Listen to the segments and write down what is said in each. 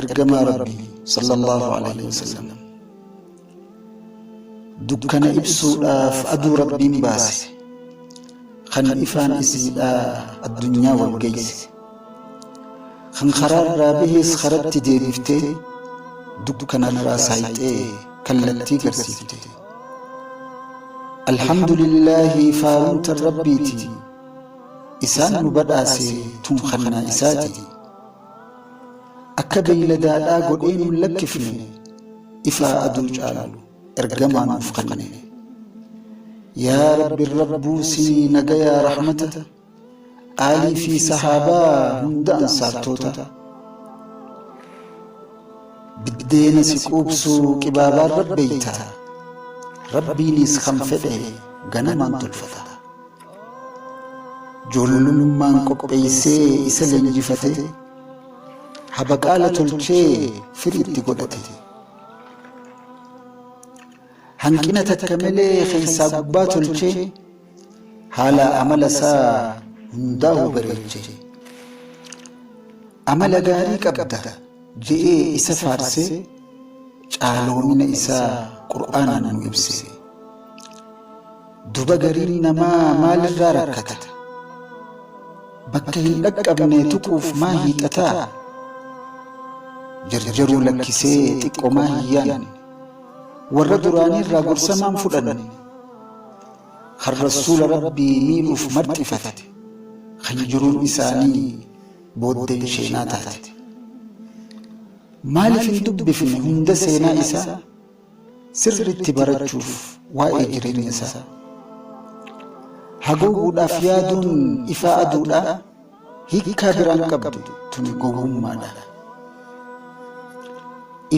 Ergamaa Rabbii sallallahu alaihi wasallam dukkana ibsuudhaaf aduu Rabbiin baase kan ifaan isiidhaa addunyaa wal geeyse kan karaa irraa bahees karatti deebiftee dukkana irraa saayxee kallattii garsiifte alhamdulillaahi faarumta rabbiiti isaan nu badhaase tun kannaa isaati Akka beeyladaadhaa godhee nun lakkifne ifaa aduu caalu ergamaa nuuf kenne. Yaa Rabbi Rabbuu sii nagayaa rahmata aalii fii sahaabaa hunda ansaartoota biddeena si quubsu qibaabaan rabbeeyta rabbiiniis kan fedhe ganamaan tolfata. Joololummaan qopheessee isa leenjifate, habaqaala tolchee firii itti godhate. Hanqina takka malee keessaa gubbaa tolchee, haala amala isaa hundaa'u bareeche. Amala gaarii qabda je'ee isa faarsee, caaloomina isaa Qur'aanaan nu ibse. Duba gariin namaa maalirraa rakkata? Bakka hin dhaqqabne tuquuf maa hiixata? Jarjaruu lakkisee xiqqomaa hin yaanne. Warra duraaniirraa gorsa maan fudhanne? Kan Rasuula Rabbii miidhuuf marxifate. Kan jiruun isaanii booddeen sheenaa taate. Maaliif hin dubbifne hunda seenaa isaa? sirriitti barachuuf waa'ee jireenya isaa haguuguudhaaf yaaduun ifaa aduudhaa hiikkaa biraan qabdu tuni gowwummaadha.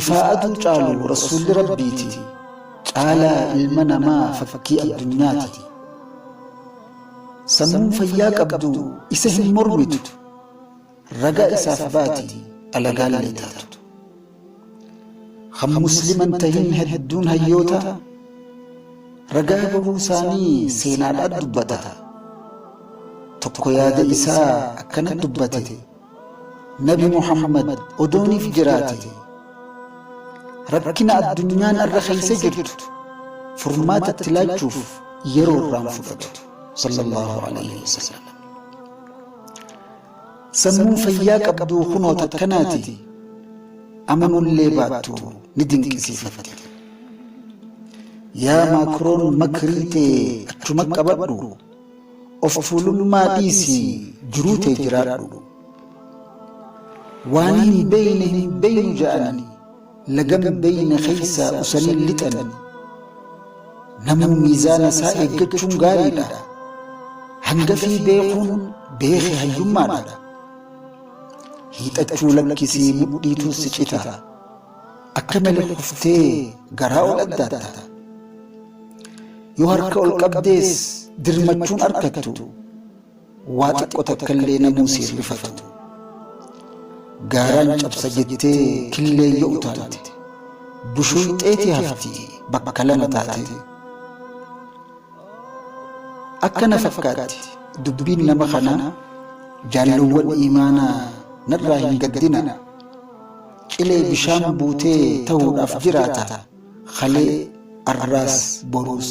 Ifaa aduu caalu rasuulli rabbiiti caalaa ilma namaa fakkii addunyaati. Sammuun fayyaa qabdu isa hin mormitu. ragaa isaaf baati alagaallee taatu. Kan musliman tahin hedduun hayyoota ragaa bahuu isaanii seenaadhaan dubbata. Tokko yaada isaa akkana dubbate Nabi Muhammad odooniif jiraate rakkina addunyaan irra keessa jirtu furmaata itti laachuuf yeroo irraan fudhatu sallallahu alaihi wasallam. Sammuu fayyaa qabduu kunoo takkanaati amanullee baattu ni dinqisiifatte. Yaa Maakroon makrii tee achuma qabadhu of tuulummaa dhiisi jiruu tee jiraadhu. Waan hin beeyne hin beeynu ja'anii. lagan beeyne keessaa usanii lixan. Namuu miizaana isaa eeggachuun gaariidha. Hangafii beekuun beeke hayyummaadha. Hiixachuu lakkisii mudhiitu si cita. Akka malee kuftee garaa ol addaatta. Yoo harka ol qabdees dirmachuun arkattu. waa xiqqo takkallee namuu si hin rifatu. Gaaraan cabsa jettee killeen yoo utaalte, bushuun xeetii hafti bakka lama taatee. Akka na fakkaatti dubbiin nama kanaa jaalluwwan iimaanaa narraa hin gaddina. Cilee bishaan buutee tahuudhaaf jiraata kalee, arraas, boruus.